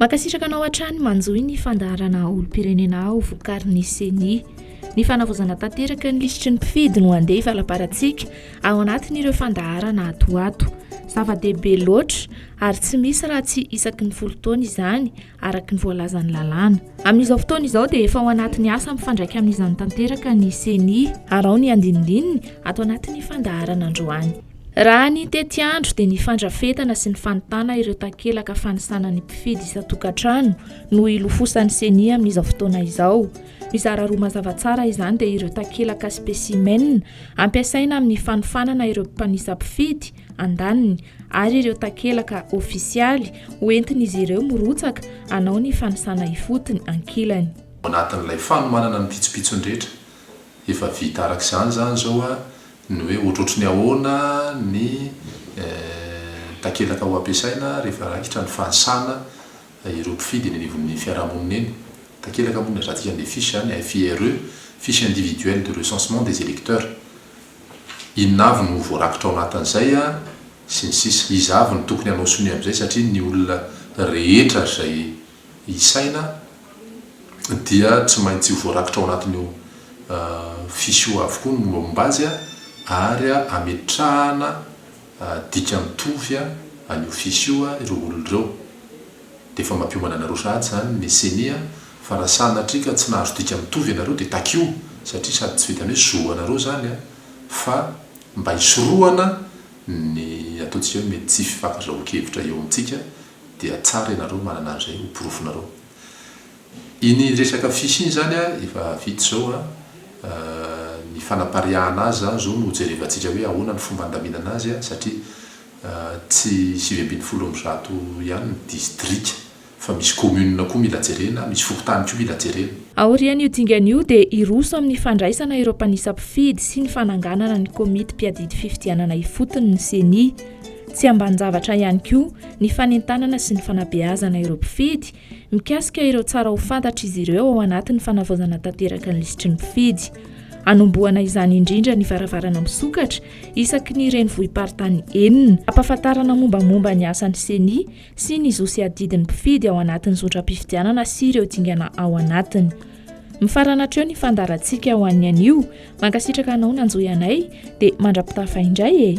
Mankasitraka anao hatrany manjohy ny fandaharana olom-pirenena aho vokarin'ny ceni. Ny fanavaozana tanteraka ny lisitry ny mpifidy no andeha hivalabarantsika ao anatin'ireo fandaharana ato ato. Zava-dehibe loatra ary tsy misy raha tsy isaky ny folo taona izany araka ny voalazan'ny lalàna. Amin'izao fotoana izao dia efa ao anatin'ny asa mifandraika amin'izany tanteraka ny ceni ary ao ny andinindininy ato anatin'ny fandaharana androany. Raha ny tetiandro dia ny fandrafetana sy ny fanontana ireo takelaka fanisana ny mpifidy isan-tokantrano no ilofosan'ny CENI amin'izao fotoana izao. Mizara roa mazava tsara izany dia ireo takelaka spécimen ampiasaina amin'ny fanofanana ireo mpanisa mpifidy, andaniny, ary ireo takelaka ofisialy ho entin'izy ireo mirotsaka hanao ny fanisana ifotony, ankilany. Ao anatin'ilay fanomanana ny pitsopitsony rehetra efa vita araka izany izany izao ny hoe ohatrohatry ny ahoana ny takelaka ho ampiasaina rehefa raikitra ny fanisana ireo mpifidy eny anivon'ny fiarahamonina eny. Takelaka moa no ilazantsika an'ilay fiche izany, FIRE, Fiche Individuelle de Recensement des Electeurs. Inona avy no voarakitra ao anatin'izay sy ny sisa. Iza avy no tokony hanao sonia amin'izay satria ny olona rehetra izay ny saina dia tsy maintsy ho voarakitra ao anatin'io fiche io avokoa ny mombamomba azy ary ametrahana dika mitovy an'io fiche io ireo olona ireo. Dia efa mampiomana anareo sahady izany ny ceni fa raha sanatria ka tsy nahazo dika mitovy ianareo dia takio satria sady tsy vitan'ny hoe zo anareo izany fa mba hisorohana ny ataontsika hoe mety tsy fifankazahoan-kevitra eo amintsika dia tsara ianareo manana an'izay ho porofonareo. Iny resaka fils iny izany efa vita izao an, ny fanapariahana azy izany izao no jerevantsika hoe ahoana ny fomba handaminana azy satria tsy sivy ambin'ny folo amby zato ihany ny distrika fa misy commune koa mila jerena, misy fokontany koa mila jerena. Aorian'io dingana io dia hiroso amin'ny fandraisana ireo mpanisa mpifidy sy ny fananganana ny komity mpiadidy fifidianana ifotony ny ceni. Tsy ambanin-javatra ihany koa ny fanentanana sy ny fanabeazana ireo mpifidy mikasika ireo tsara ho fantatr'izy ireo ao anatin'ny fanavaozana tanteraka ny lisitry ny mpifidy. Anombohana izany indrindra ny varavarana misokatra isaky ny renivohi-paritany enina, hampahafantarana mombamomba ny asan'ny ceni sy ny zo sy adidin'ny mpifidy ao anatin'ny zotram-pifidianana sy ireo dingana ao anatiny. Mifarana hatreo ny fandaharantsika ho an'ny anio. Mankasitraka anao nanjohy anay dia mandra-pitafa indray e!